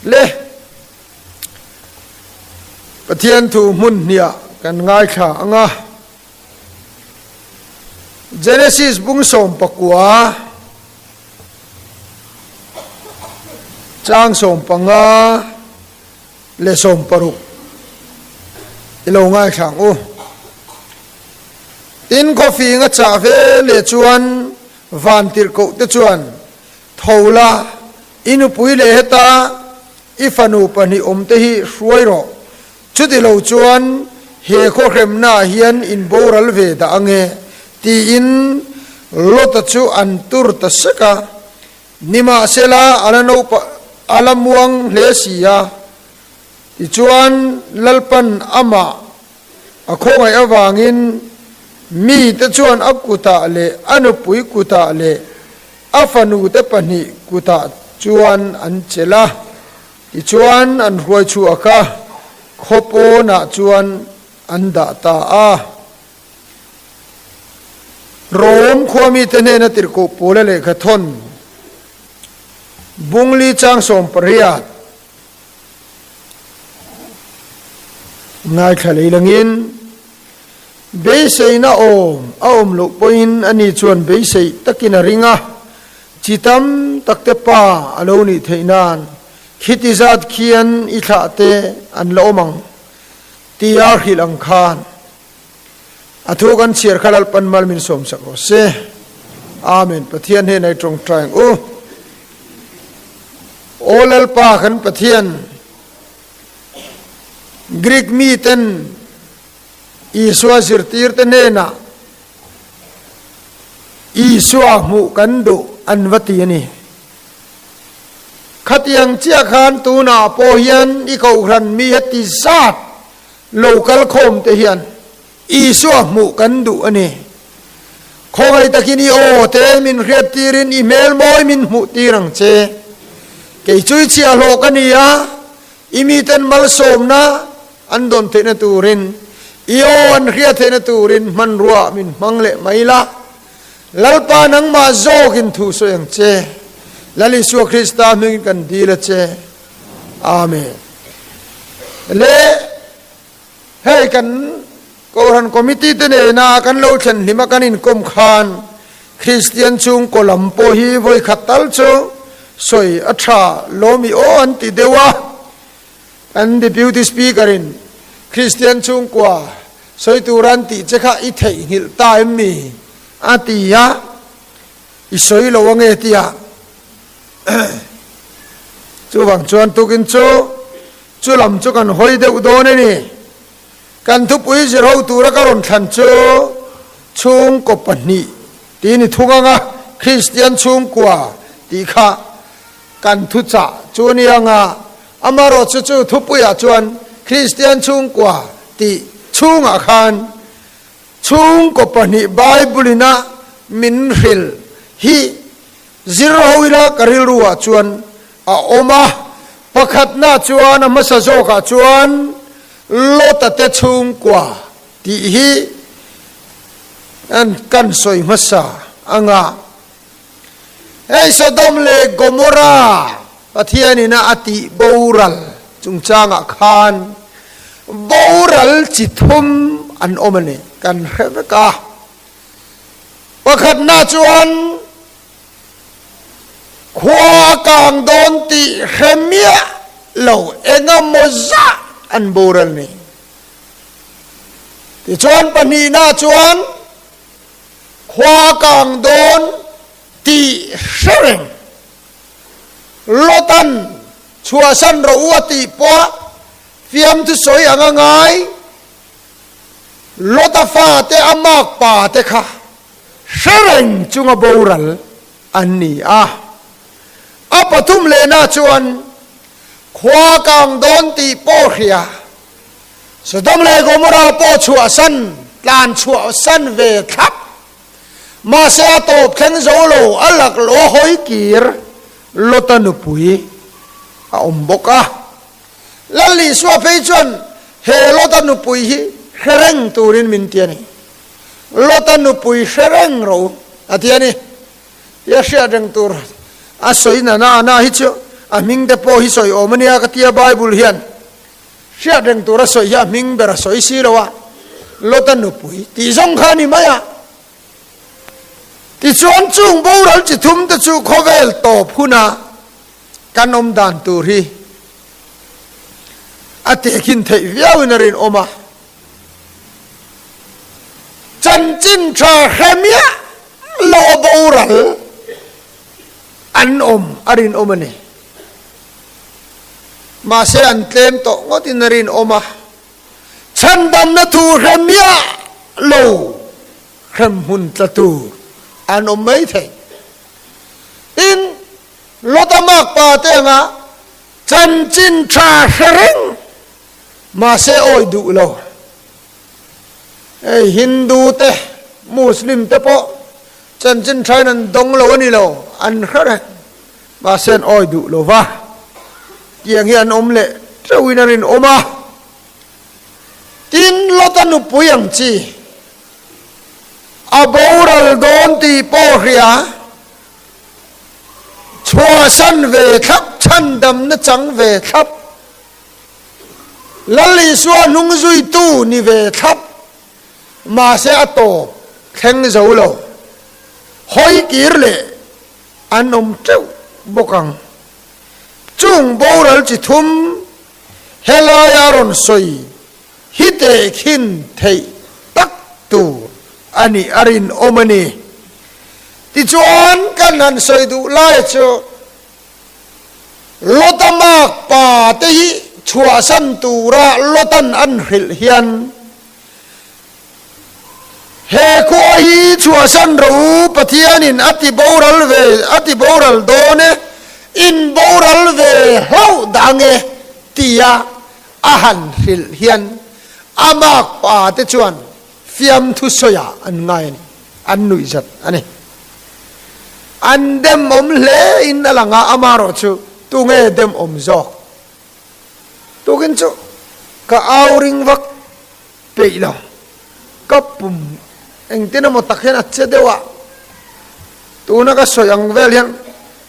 Le Pathian thu hmun hniah kan ngaithla ang a. Genesis bung sawm pakua chang sawm panga leh sawm paruk i lo ngaithla ang u. Tin khawfing a chah ve leh chuan van tirh koh te chuan, Tho la, i nupui leh heta i fanu pahnih awmte hi hruai rawh. Chutilo chuan he khawhremnaah hian in boral ve dah ange, tiin Lota chu an tur ta sek a. Nimahsela, a la naupa, a la muang hle si a. Tichuan, Lalpan amah a khawngaih avangin mite chuan a kutah leh a nupui kutah leh A fanu te pahnih kutah chuan an chelh a, tichuan an hruaichhuak a, khaw pawnah chuan an dah ta a. Rome khuami te hnena tirhkoh pawla lehkha thawn bungli chang sawm pariat ngaithla lei langin beiseina awm a awm loh pawhin a ni chuan beiseih takin a ring a, chi tam takte pa a lo nih theih nan khiti zat khian i thlah te an la awm ang tia hrilh ang khan. A thu kan chhiar kha Lalpan mal min sawm chak rawh se. Amen. Pathian hnena i tawngtai ang u. O Lalpa kan Pathian, Greek mi ten Isua zirtirte hnena Isua hmuh kan duh an va ti a ni. Khatiang chiah khan tunah pawh hian i kohhran mi heti zat Lo kal khawm te hian Isua hmuh kan duh a ni. Khawvei takin i aw te min hriat tir in i hmel mawi min hmuh tir ang che. Kei chu i chhiah hlawh ka ni a, i mi ten malsawmna an dawn theihna tur in i aw an hria theihna tur in hmanruah min hmang leh mai la. Lalpa nangmah zawk in thu sawi ang che. Lal Isua Krista hming in kan dil a che. Amen. Le hei kan Kohhran Committee te nena kan lo thlen hlim a kan inkawm khan Kristian chhung kaw lam pawh hi vawi khat tal chu sawi a tha lawmi aw an ti deuh a, kan Deputy Speaker in Kristian chhung kaw sawi tura an tih che kha i theihnghilh ta em mi? a ti a, i sawi lo ange tia. Chuvang chuan tukin chu chu lam chu kan hawi deuh dawn a ni. Kan thupui zir ho tura ka rawn thlan chu chhungkaw pahnih tiin i thu ngang a, Kristian chhungkua tih kha kan thuchah chu a ni ang a, amarawh chu chu thupuiah chuan Kristian chhungkua tih chhungah khan chhungkaw pahnih Bible-in a min hrilh hi, Zir ho ila ka rilru ah chuan a awm a, pakhatna chuan a hmasa zawk ah chuan Lota te chhungkua tih hi an kan sawi hmasa anga hei Sodom leh Gomora Pathian in a tih boral chungchang ah khan boral chi thum an awm a ni kan hre vek a. Pakhatna chuan khua a kang dawn tih hre miah lo engemaw zah an bur a ni. Tichuan pahnihna chuan khua a kang dawn tih hre reng. Lotan chhuahsan rawh u a tih pawh fiamthu sawi ang a ngai. Lota fate a mâk pate kha hre reng chunga boral an ni a. A pathum lehna chuan khua kang dawn tih pawh hria. Sodom leh Gomora pawh chhuahsan, tlan chhuahsan ve thlap. Mahse a tawp thleng zo lo a laklawh hawi kir Lota nupui a awm bawk a. Lallisua phei chuan he Lota nupui hi hre reng turin min ti a ni. Lota nupui hre reng rawh u a ti a ni. Tia hriat reng tur a sawi nana na hi chu a hming te pawh hi sawi awm a nia ka tia Bible hian hriat reng tur a sawi hi a hming ber a sawi si lo a, Lota nupui tih zawng kha a ni mai a. Tichuan chung boral chi thum te chu khawvel tawp huna Kan awm dan tur hi a tehkin theih viauin a rinawm a, chanchin tha hremiah lawh boral an awm a rinawm a ni. Mahse an tlem tawh ngawtin a rinawm a, chhandamna thu hremiah lo hremhmun tla tur an awm maithei. Tin. Lota Mark pa te anga chanchin tha hre reng mahse awi duh lo. Hei Hindu te Muslim te pawh chanchin thain an dawng lo a ni lo, an hre reng mahse an awi duh lo va, tiang hi an awm leh teuhin a rinawm a. Tin, Lota nupui ang chi a boral dawn tih pawh hria Chhuahsan ve thlap, chhandamna chang ve thlap, Lal Isua hnung zuitu ni ve thlap, mahse a tawp thleng zo lo, hawi kir leh an awm teuh bawk ang. Chung boral chi thum helaia rawn sawi hi tehkhin theih tak tur a ni a rinawm a ni. Tichuan kan han sawi duh lai chu Lota mak pa te hi chhuahsan tura Lotan an hrilh hian he khua hi chhuahsan ro u Pathianin a ti boral ve a ti boral dawn e, inboral ve hlauh dang e tia A han hrilh hian a mâk pa te chuan fiamthu sawiah an ngai a ni, an nuih zat a ni. An demawm hle in a lang a, ama rawh chu tunge demawm zawk? Tukin chu ka au ring vak peih lo, ka pum engtin emaw tak hian a che deuh a, tuna ka sawi ang vel hian,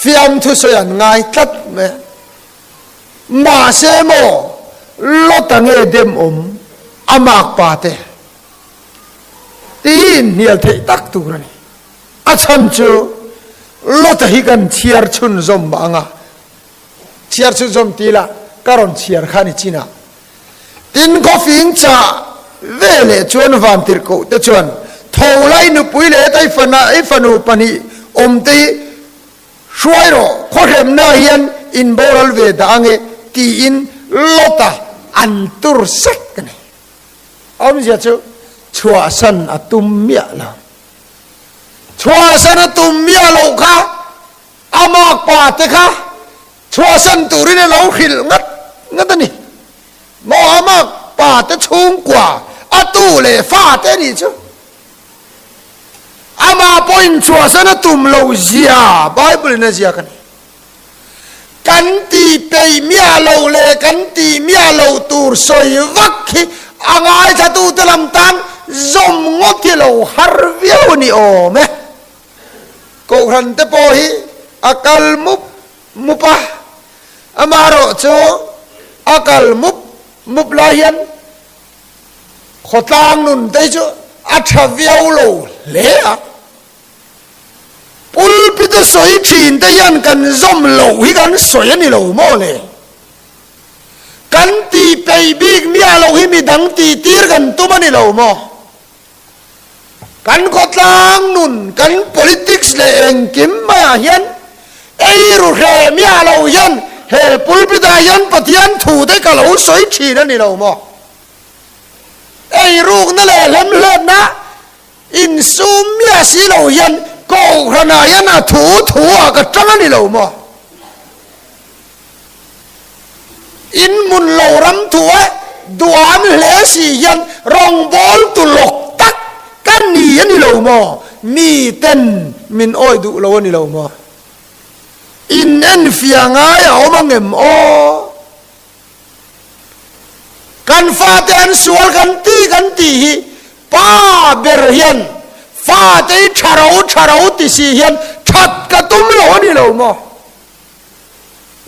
fiam thusawi an ngai tlat mai a. Mahse maw Lota nge dem awm a mak pa te? Tih hi inhnial theih tak tur a ni. A chhan chu Lota hi kan chhiar chhunzawm anga. Chhiar chu zawm ti la, ka rawn chhiar kha ni chin a. Tin khaw fing cha ve leh chuan Vantirhkoh te chuan tho la i nupui leh ta i fana i fanu pahnih awm te hi hruai rawh, khaw hremna hian in boral ve dah ange tiin lawt a an tur sek a ni. Awmzia chu chhuahsan a tum miah lo. Chhuahsan a tum miah loh kha A makpa te kha chhuahsan turin a lo hrilh ngat ngat a ni. Maw a makpa te chhungkua a tu leh fa te nih chu ama pawh inchhuahsan a tum lo zia Bible in a ziak a ni. Kan ti peihmia lo leh kan tihmia lo tur sawi vak hi a ngaithlatute lam tan zawm ngawt hi a lo har viau ni awm e. Kohhran te pawh hi a kal mup mup a, amaherawh chu a kal mup mup lai hian khaw tlang nun te hi chu a tha viau lo hle a. Pulpita sawi thin te hian kan zawm loh hi kan sawi a ni lo maw le? Kan tihpeih bik nia loh hi midang tihtir kan tum a ni lo maw? Kan khawtlang nun, kan politics leh engkim maiah hian ei ru hreh miah lo hian he pulpit ah hian Pathian thu te ka lo sawi thin a ni lo maw? Ei rukna leh hlemhletna insum miah si lo hian Kohhranah hian a thu thu ah ka tang a ni lo maw? In mun lo ram thu a duan hle si hian rawngbawl tu lawk tak ka ni a ni lo maw? Mi ten min awih duh lo a ni lo maw? In en fia ngai a awm ang em aw? Kan fate an sual kan ti kan tih hi pa ber hian fatei tha rau tha rau ti si hian that ka tum lo a ni lo maw?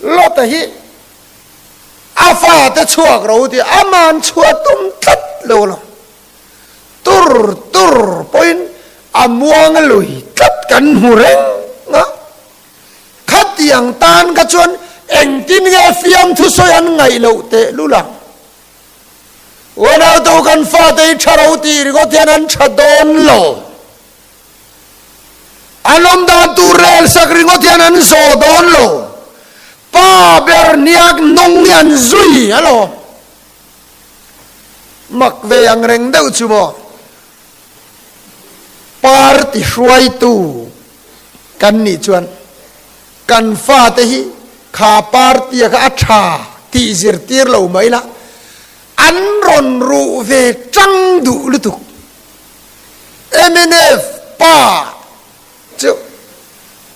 Lota hi a fate chhuak ro tia a man chhuah tum tlat lo lo. Tur tur pawhin a muang lui tlat kan hmu reng a. Khatiang tan kha chuan engtin nge fiamthu sawi an ngaih loh teh lu lang. Unautu kan fate hi tha ro tih ri kawt hian an tha dawn lo. A lawm dan tur rel sak ringawt hian an zawh dawn lo. Pa Berniak nawng hi an zui a lo. Mak ve ang reng deuh chu maw? Party hruaitu kan nih chuan kan fate hi kha party-a kha a tha tih zirtir lo mai la, an rawn ruh ve chang duh lutuk. MNF pa chu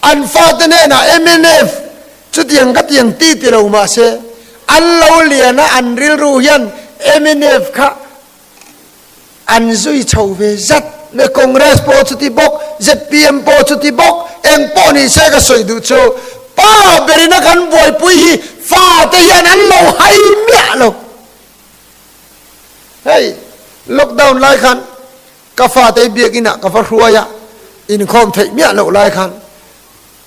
an fate hnena MNF chutiang khatiang ti ti lo mahse an lo lian a an rilru hian MNF kha an zui chho ve zat mai Congress pawh chuti bawk zpm pawh chuti bawk eng pawh ni se ka sawi duh chu pa berina kan buaipui hi fate hian an lo hai miah lo. Hei lockdown lai khan ka fate biakin ah ka va hruai a, inkhawm theih miah loh lai khan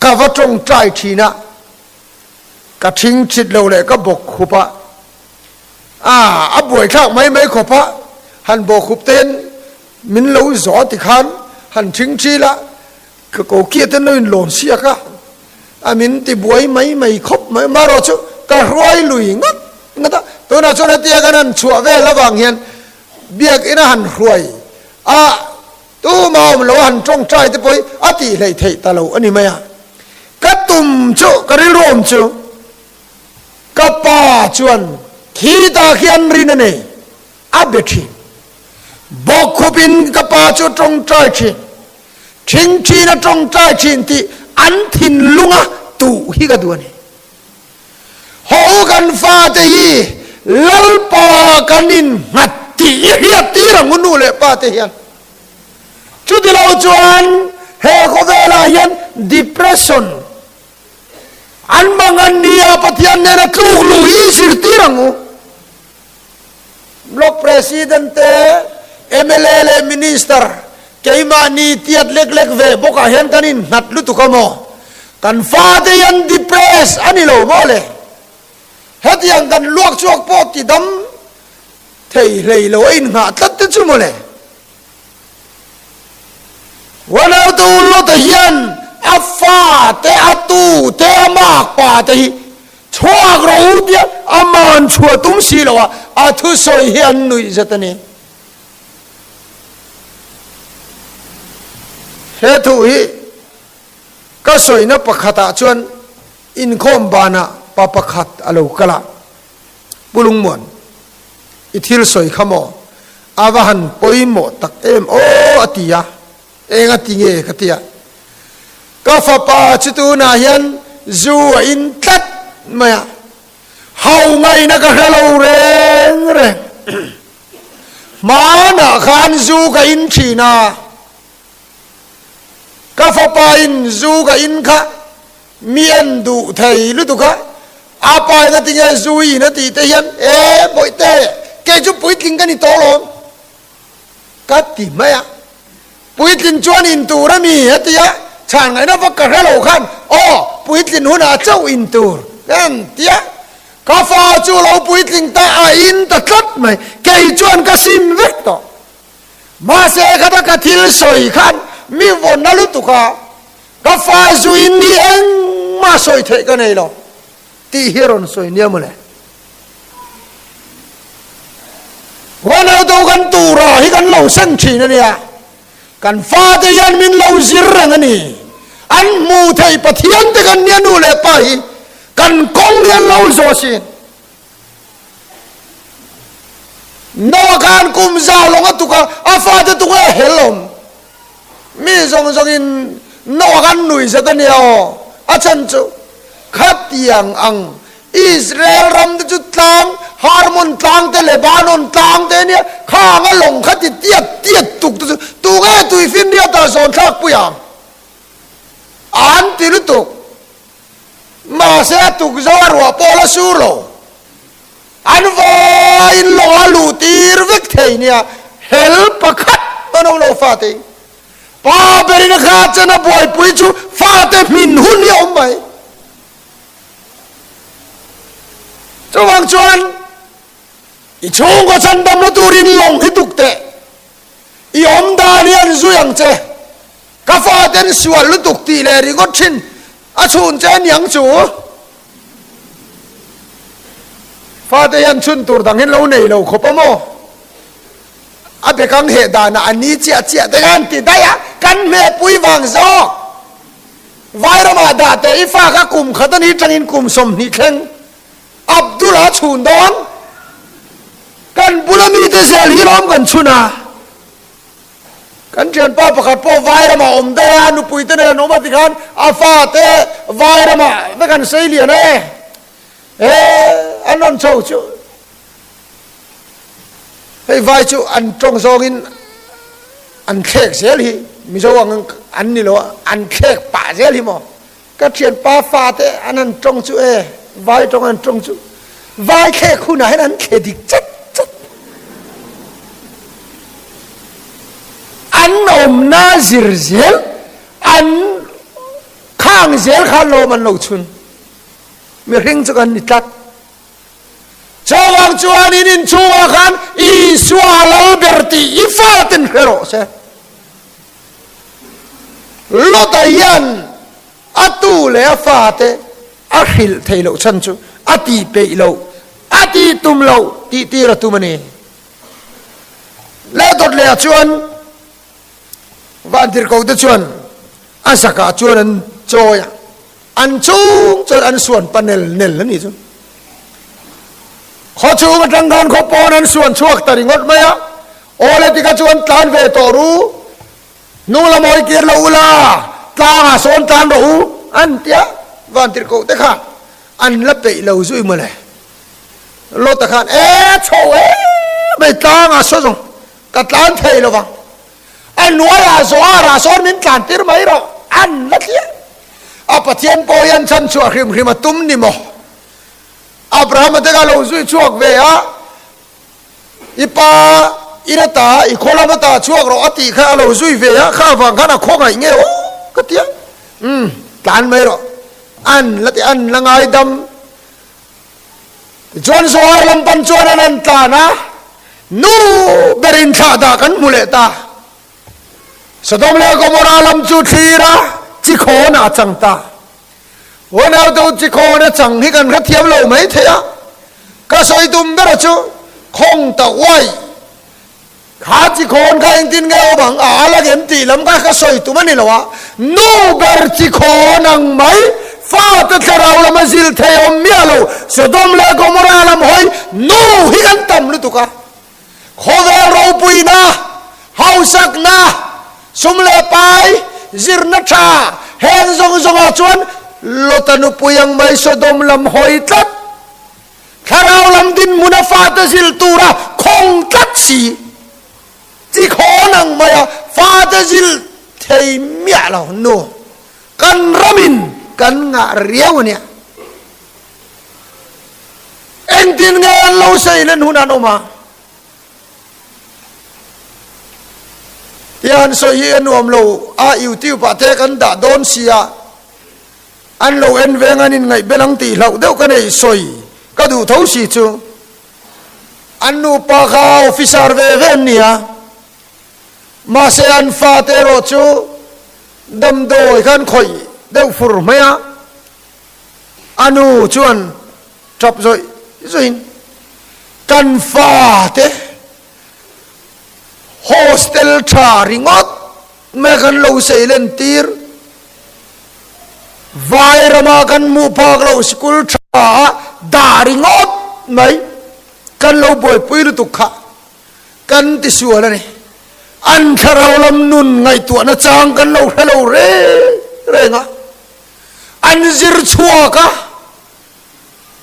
ka va tawng tai thin a, ka thing chit lo leh ka bawk hup a, ah a buai thlak mai mai khawp a, han bawk hup teiin min lo zawh a tikhan han thing thil a, Ka ko kiate nu in lawn siak a, a min ti buai mai mai khawp mai, mah ruah chu ka hruai lui ngat ngat a, tunah chuan hetia kan han chhuah vel avang hian biakin a han hruai a, tuma awm loh a han tawngtai te pawh hi a tih hlei theih ta lo a ni mai a, ka tum chu ka rilru awm chu ka pa chuan khi ta khian rin a nei A be thin. Bawk khup in ka pa chu a tawngtai thin. Thing thin a tawngtai thin tih an thinlung a tuh hi ka duh a ni. Haw u kan fate hi Lalpa kan in nghat tih i hriat tir ang u nu leh pa te hian. Chuti lo chuan he khawvel ah hian depression an hmang a nia, Pathian nen a tluk luh hi i zir tir ang u. Block President te, mla leh Minister keimahni tiat lek lek ve bawkah hian kan innghat lutuk a maw? Kan fate hian depressed a ni lo maw le? Hetiang kan luak chhuak pawh tidam thei hlei lo a inngah tlat te chu maw le? Ronaldo lawtah hian a fa te, a tu te, a mâk pa te hi chhuak rawh u tia a mân chhuah tum si lo a, a thusawi hi an nuih zet a ni. He thu hi ka sawina pakhatah chuan inkhawm bânah pa pakhat a lo kal a. Pu Lungmuan, i thil sawi kha maw? A va han pawimawh tak em aw a ti a, eng a ti nge ka ti a. Ka fapa chu tunah hian zu a in tlat mai a, hau ngaihna ka hre lo reng reng. Hmanah khan zu ka in thin a, ka fapa in zu ka in kha. Mi an duh thei lutuk a, aa pa in a ti nge Zu Yiin a tihte hian e Bawihte, kei chu puitling ka ni tawhlawm ka ti mai a, puitling chuan in tur a mi a ti a, chhan ngaihna vak ka hre lo khan aw puitling hunah chauh in tur ka ang ti a, ka fa chu lo puitling ta a in ta tlat mai, kei chuan ka sin vek tawh, mahse khata ka thil sawi khan mi vawn na lutuk a, Ka fa zui mi engmah sawi theih ka nei lo tih hi a rawn sawi nia mawle. Khuan auto kan tura hi kan lo sen thin a nia, kan fate hian min lo zir reng a ni, an hmuh theih Pathian te kan nia nu leh pa hi kan kawng rial lo zawh sin Noah khan kum zau lawnga tuka a fate tunga a hel awm. Mi zawng zawngin Noah khan nui zet a nia aw, a chhan chu khatiang ang. Israel ram te chu tlang, Harmon tlang te, Lebanon tlang te nia, khanga lawng khati tiat tiat tuk te chu tunge tui finriata zawnthlak pui ang? An ti lutuk. Mahse a tukzo a ruah pawl a sur lo. An vaiin lawng a luh tir vek thei nia. Hel pakhat a nawm lo fatein. Pa berin kha chuan a buaipui chu fate hmin hun hi a awm mai. Chuvang chuan i chhungkaw chhan damna turin lawng hi tuk teh. I awm dan hi an zui ang che. Ka fa ten sual lutuk tih leh ringawt thin a chhun che niang chu fate hian chhun tur dang hian lo nei lo khawp a maw a bekang heh dan a ani chiah chiah te hian ti daih a kan hme pui vang zawk vai ram ah dah teh i fa kha kum khat ani tang in kum sawmhnih thleng Abdul a chhun dawn kan bula mi te zel hi lawm kan chhun a Kan thianpa pakhat pawh vai ramah awm daih a, nupui te nen an awm a ti khan a fa te vai ramah vek an sei lian a e. He an rawn cho chu hei vai chu an tawng zawngin an thlek zel hi Mizo ang an ni lo a, an thlek pah zel hi maw Ka thianpa fate an han tawng chu e, vai tawng an tawng chu vai thlek hunah hian an thle dik chat chat. An awmna zir zel, an khang zel kha lawm an lo chhun. Mihring chu kan ni tlat. Chuvang chuanin inchhungah khan Isua a lo ber tih i fate an hre rawh se. Lota hian a tu leh a fate a hrilh thei loh chhan chu a ti peih loh, a ti tum loh tih tir a tum a ni. Lehdawt leh ah chuan Vantirhko te chuan a zak ah chuan an chawi a, an chhung chuan an suan pa nel nel a ni chu. Khaw chhung atang khan khaw pawn an suan chhuak ta ringawt mai a. Aw le tikah chuan tlan ve tawh ru, hnunglam awi kir lo ula, tlangah sawn tlan rawh u an tia Vantirhkoh te khan an la peih lo zui maw le. Lota khan e chho em mai tlangah saw zawng ka tlan thei lo vang, a hnuaiah Zohar-ah sawn min tlan tir mai rawh an la tia. A Pathian pawh hian chhan chhuah hrim hrim a tum ni maw? Abrahama te kha lo zui chhuak ve a. I pa, i la ta a, i khaw lam ata chhuak rawh a tih kha a lo zui ve a, kha avang khan a khawngaih nge aw ka ti a, umm tlan mai rawh an la ti a, an la ngaidam tichuan Zohar lam pan chuan an han tlan a, nu ber in thlah dah kan hmu leh ta, Sodom leh Gomorrah lam chu thlir a chi khawn a chang ta, Ronaldo chi khawn achang hi kan hrethiam lo mai thei a, ka sawi tum bera chu khawng ta uaih kha chi khawn kha engtin nge awmang a la ngem tih lam kha ka sawi tum a ni lo a, nu ber chi khawn ang mai fate thlarau lama zil thei awm miahlo Sodom leh Gomorrah lam hawi nu hi kan tam lutuk a. Khawvel ropuina, hausakna, sum leh pai zirna tha heng zawng zawngah chuan Lota nupui ang mai Sodom lam hawi tlat, thlarau lam dinhmun a fate zil tura khawng tlat si chi khawn ang maia fate zil thei miah lo. Nu, kan ram in kan ngah riau ania. Engtin nge an lo sawi len hun an awm a? Tia an sawi hi a nuam lo a, YouTube ah te kan dah dawn si a, an lo en veng an inngaih bel ang tih hlauh deuh ka nei sawi ka duh tho si chu. An nupa kha officer ve ve an ni a, mahse an fate erawh chu damdawi kha an khawih deuh fur mai a, A nu chuan ṭap zawih zawihin, Kan fate hostel ṭha ringawt mai kan lo sail entir, vai rama kan hmuh phak loh sikul ṭhaa dah ringawt mai kan lo buaipui lutuk kha kan ti sual a ni. An thlarau lam nun ngaihtuahna chang kan lo hre lo reng reng a. an zir chhuak a,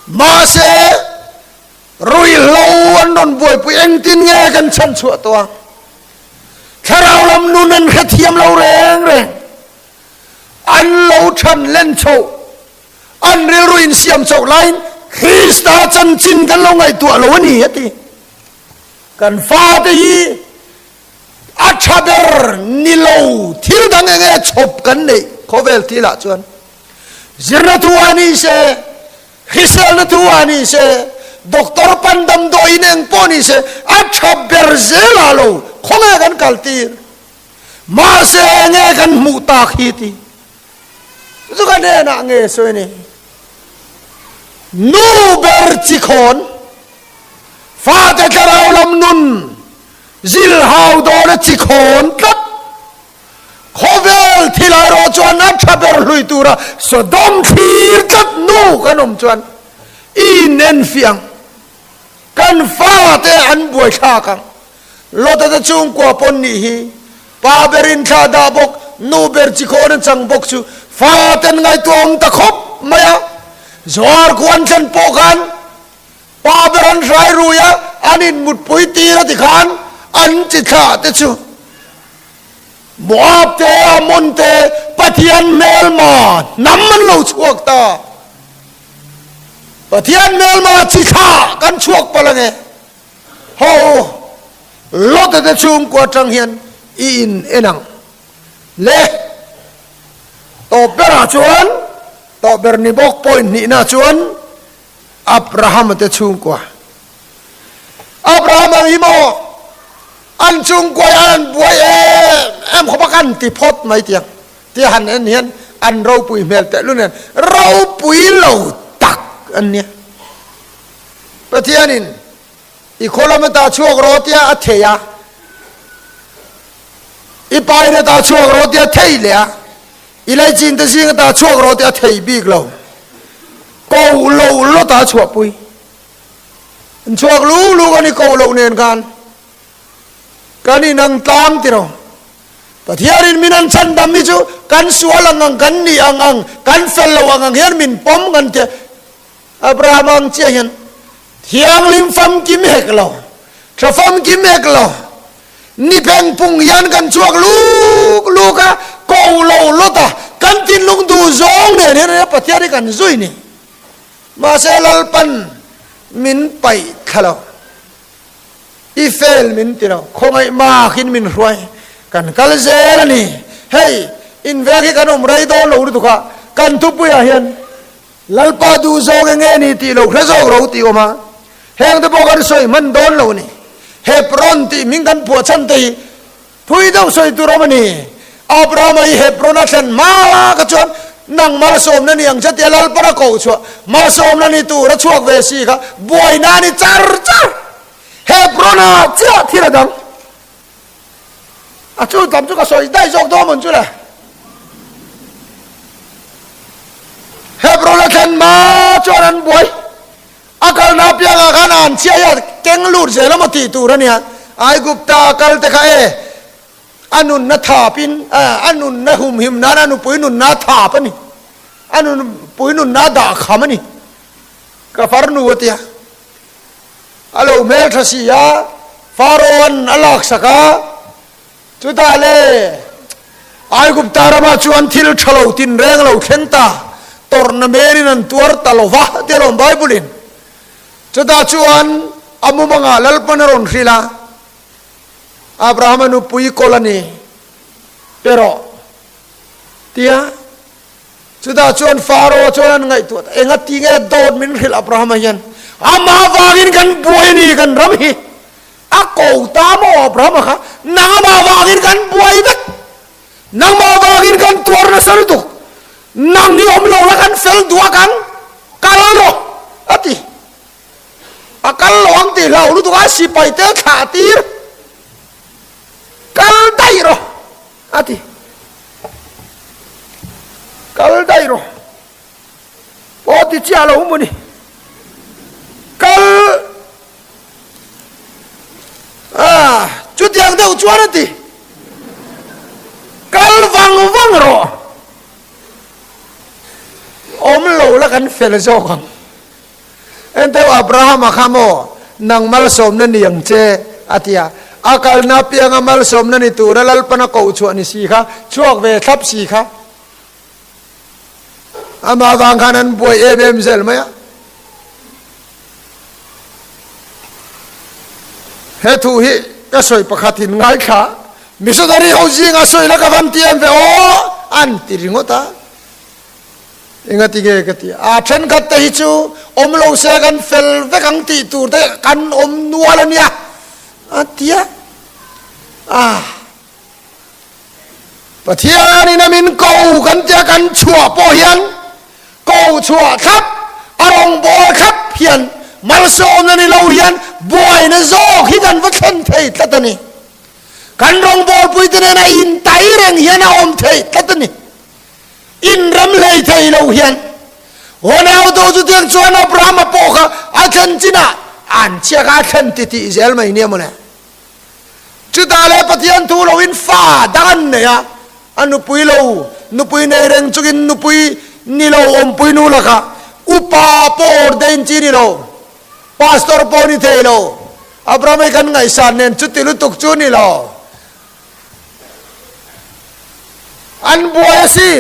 mahse ruihhlo an rawn buaipui engtin nge kan chhan chhuah tawh a, thlarau lam nun an hrethiam lo reng reng, an lo chhan len chhoh, an rilru insiam chauh laiin Krista chanchin kan lo ngaihtuah lo a ni a ti. Kan fate hi. a tha ber ni lo thil dang eng nge chhawp kan neih khawvel ti lah chuan zirna tu a ni se hriselna tu a ni se doctor pan damdawi in eng pawh ni se a tha ber zel ah lo khaw nge kan kal tir mahse eng nge kan hmuh tak hi ti chu ka nen ah nge sawi ni nu ber chi khawn fate thlarau lam nun Zir hau dawn a chi khawn tlat. Khawvel thil erawh chuan a tha ber hlui tura sawdawm thlir tlat nuk an awm chuan i nen fiah ang. Kan fate an buaithlak ang. Lota te chhungkua pawn nih hi pa berin thla dah bawk, nu ber chi khawn a chang bawk chu faten ngaihtuah a awm ta khawp mai a. Zuarkhuan thlen pawh khan Pa ber an hrai rui a, an inmutpui tir a ti khan an chi thlah te chu Moab te Ammon te Pathian hmelma hnam an lo chhuak ta. Pathian hmelma chi thlah kan chhuak palh ange. Haw, Lota te chhungkua tang hian i in en ang le tawp berah chuan tawp ber ni bawk point hnihna chuan, Abraham te chhungkua. Abraham ang hi maw an chungkuai ah an buai em em khaw bak an ti phawt mai tiang tia han en hian an ropui hmel teh lu nen ropui lo tak an nia. Pathianin i khawlam atah chhuak rawh tia a thei a, i pain atah chhuak rawh tia thei leh a. I lei chin te zing ata chhuak rawh tih a theih bik lo. Koh loh lawt a chhuah pui. An chhuak lu lu kan i koh loh nen khan kan inang tlang tih rawh. Pathianin min an chhan dam hi chu kan sual ang ang, kan nih ang ang, kan fel loh ang ang hian min pawm kan ti a. Abraham ang chiah hian thianghlim famkim hek lo, tha famkim hek lo, ni pheng pung hian kan chhuak luk luk a, kong lo lawt a, kan thinlung duh zawng nen hian enge Pathian hi kan zui ni? Mahse Lalpan min paih thla lo, i fail min ti lo, khawngaih makin min hruai kan kal zel a ni. Hei, invek hi kan awm rei dawn lo lutuk a, kan thupuiah hian Lalpa duh zawk eng nge ni tih lo hre zawk lo tih awm a, heng te pawh kan sawi hman dawn lo ni. Hebron tih min kan puahchhan te hi phui deuh sawi tur awm a ni. Abraham-a hi Hebron-a thlen hmaa kha chuan nangmah sawmna ni ang che tia Lalpan a koh chhuah, mah sawmna ni tur a chhuak ve si kha buaina a ni char char. Hebron-a chiah thil a dang A chhun tam chu ka sawi daih zawk dawn mawn chu le. Hebron-a thlenma chuan an buai. A kalna piangah khan a an chhiah hian keng lut zel emaw tih tur a nia. Aigupta kalte kha e, a nunna thap in, a nunna hum him nan a nupui nunna thap a ni. A nupui nunna dah kham a ni, ka farnu a ti a. a lo hmel tha si a, Pharaoh-a'n a laksak a, chutah leh Aigupta rama chuan thil tha lo tinreng lo thleng ta, tawrhna hmelin an tuar ta lo va tih a lawm Bible-in. Chutah chuan a mumangah lalpan a rawn hrilh a, Abrahama nupui kawl a ni, perawh tia. Chutah chuan Faro chuan an ngaihtuah ta, Enga ti nge dawt min hrilh Abrahama hian? Amah vangin kan buai a ni kan ram hi? A ko ta maw Abrahama kha? Nang amah vangin kan buai vek? Nangmah vangin kan tuar nasa lutuk? Nang hi awm lo la kan fel duak ang, kal rawh, a ti. A kal lo ang tih hlau lutuk a sipaite thlah tir, Kal daih rawh. A ti. Kal daih rawh. Pawh ti chiah lo mu ni. Kal. Ah, chutiang deuh chuan a ti. Kal vang vang rawh. Awm lo la kan fel zawk ang. Enteu Abraham a kha maw? Nang malsawmna ni ang che, a ti a. A kalna apianga malsawmna ni tura lalpan a koh chhuah ni si kha, chhuak ve thlap si kha. Amah vang khan an buai em em zel mai a. He thu hi ka sawi pakhatin ngaithla missionary ho zingah sawi la ka van ti em ve aw? an ti ringawt a. Enga ti nge ka ti a, thenkhat te hi chu awm lo se kan fel vek ang tih tur te kan awm nual a nia a ti a. Ah. Pathianin a min ko kan tia kan chhuah pawh hian ko chhuah thlap a rawngbawr khat hian malsawmna ni lo hian buaina zawk hi kan va thlen thei tlat a ni. Kan rawngbawrpuite nena intai reng hian a awm thei tlat a ni. Inram hlei thei lo hian Ronaldo chu tiang chuan Abrahama pawh kha a thlen chinah an chhiak a, a thlen titih zel mai nia mawle. Chutah leh Pathian thu loin fa dang an nei a, a nupui lo, nupui nei reng chungin nupui ni lo awmpui nu laka upa pawh ordain chi ni lo, pastor pawh ni thei lo, Abrahama hi kan ngaihsan nen chuti lutuk chu ni lo. An buai a si.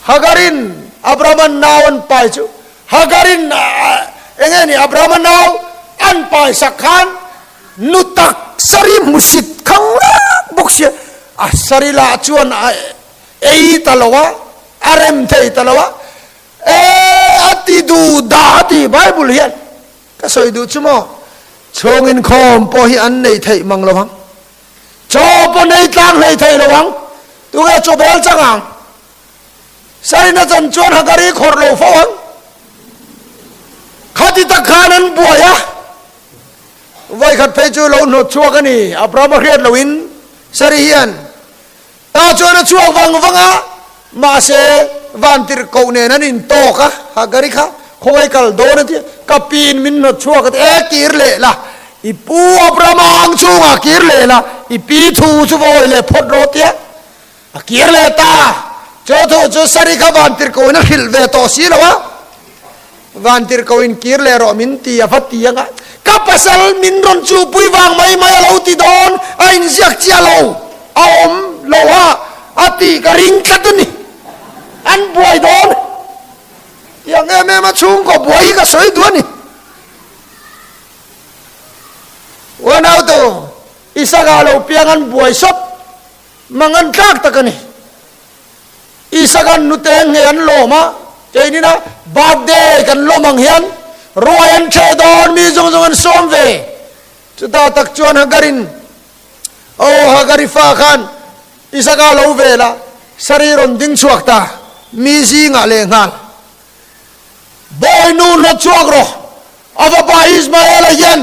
Hagarin Abrahama nau an pai chu Hagarin eng nge ni Abrahama nau an pai sak khan nu taksari hmusit khang rak bawk si a sari lah chuan a ei ta lo a a rem thei ta lo a e a ti du da a ti bible hian Ka sawi duh chu maw? Chhawng inkhawm pawh hi an nei theih mang lo ang. Chaw pawh nei tlang hlei thei lo ang. Tunge chaw bel chang ang? Sarina chan chuan hagari khawrh lo fo ang. Khati tak khan an buai a. Vai khat phei chu lo hnawt chhuak a ni. Abraham a hriat lo in Sari hian. Tah chuan a chhuak vang vang a, mahse Vantir koh nen an intawk a, ha Gari kha khawngaih kal dawn a ti a, ka piin min hnawt chhuak a ti e kir leh la, i pu Abraham-a ang chungah kir leh la, i pi thu chu va awih leh phawt rawh tia a kir leh ta, chu thu chu Sari kha Vantir kohin a hrilh ve tawh si lo a. Van tir ko in kir leh rawh min ti a va ti ang a, ka pasal min rawn chupui vang mai mai a lo ti dawn a inziak chiah lo a awm lo ha a tih ka ring tlat a ni, an buai dawn i ang em em a chhungkaw buai hi ka sawi duh a ni. Aw nautu i sangha lo piang an buai sawt mangan tlak tak a ni, Isagan nute eng nge an lawm a? Keinin a birthday kan lawm ang hian ruai an chhe dawn, mi zawng zawng an sawm ve. Chutah tak chuan Hagarin, aw Hagari fa khan Isaka lo vel a saree rawn ding chhuak ta, mi zingah leh nghal. Bawi nu hla chuak rawh, a fapa Ismaela hian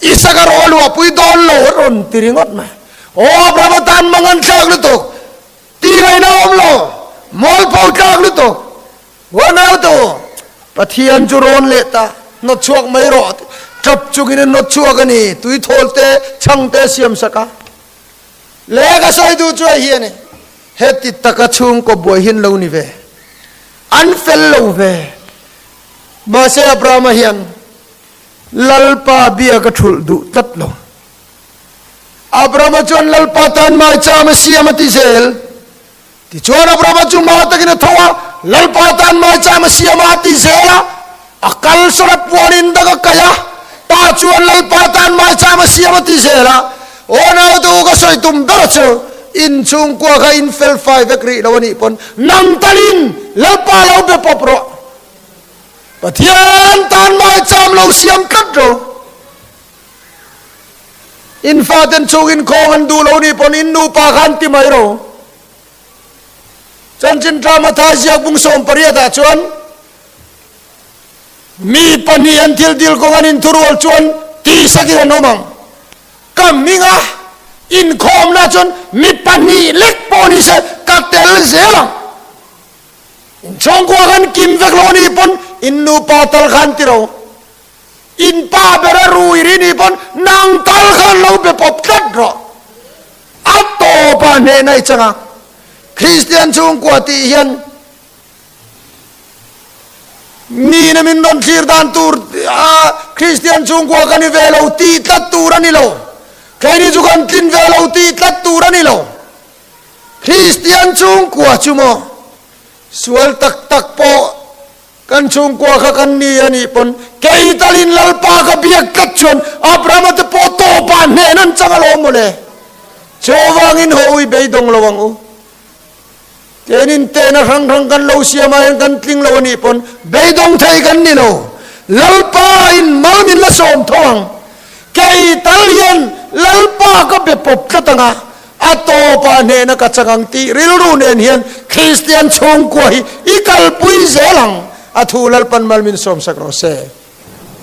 Isaka rawh a luahpui dawn lo a rawn ti ringawt mai. Aw Abrahama tan mangan thlak lutuk. Tih laih na awm lo, mawlpo tlak lutuk, Huan auto, Pathian chu rawn let a, hnawt chhuak mai rawh, tap chungin a hnawt chhuak a ni, tui thawl te, chhang te a siam sak a. Leh ka sawi duh chuai hi a ni, he ti taka chhungkaw buai hi an lo ni ve, an fel lo ve. Mahse Abrahama hian Lalpa biak a thulh duh tlat lo. Abrahama chuan Lalpa tan mai cham a siam a ti zel. Tichuan Abrahama chu mau takin a tho a, Lalpa tan mai cham a siam a a ti zel a, a kalsara puan in dak a kaih a, Pa chuan Lalpa tan mai cham a siam a ti zel a, aw naute u ka sawi tum ber a chu, in chhungkua kha in fel fai vek rih lo a nih pawn, nang tal in Lalpa lo be pawp rawh, Pathian tan mai cham lo siam tlat rawh. In faten chung in khawng an duh lo nih pawn in nupa kha an ti mai lo. Chuan chin drama thai ziak bung sawm pariat ah chuan mi pahnih an thil dil kawng an in thu rual chuan tihsak in an awm ang. Ka hming a in khawm na chuan mi pahnih lek pawh ni se ka tel zel ang. In chhawng kual khan kim vek lo nih pawn in nupa tal kha an ti lo. In pa bera ruih ri nih pawn nang tal kha an lo be pawp tlat rawh. A tawpa hnena i chang a, Kristian chhungkua tih hian mina min rawn thlir dan tur a Kristian chhungkua ka ni ve lo tih tlat tur a ni lo. Keini chu kan tlin ve lo tih tlat tur a ni lo. Kristian chhungkua chu maw sual tak tak pawh. Kan chhungkua kha kan ni a nih pawn kei tal in Lalpa ka biak tlat chuan Abrahama te pawh tawpa hnehna an chang alawm maw le? Chu avangin haw ui beidawng lo ang u. Ken in tehna hrang hrang kan lo siam ah hian kan tling lo a nih pawn beidawng thei kan ni lo. Lalpa in mal min la sawm tho ang. Kei tal hian Lalpa ka be pawp tlat ang a, A tawpa hnena ka chang ang tih rilru nen hian Kristian chhungkua hi i kalpui zel ang. A thu Lalpan mal min sawmsak rawh se.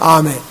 Amen.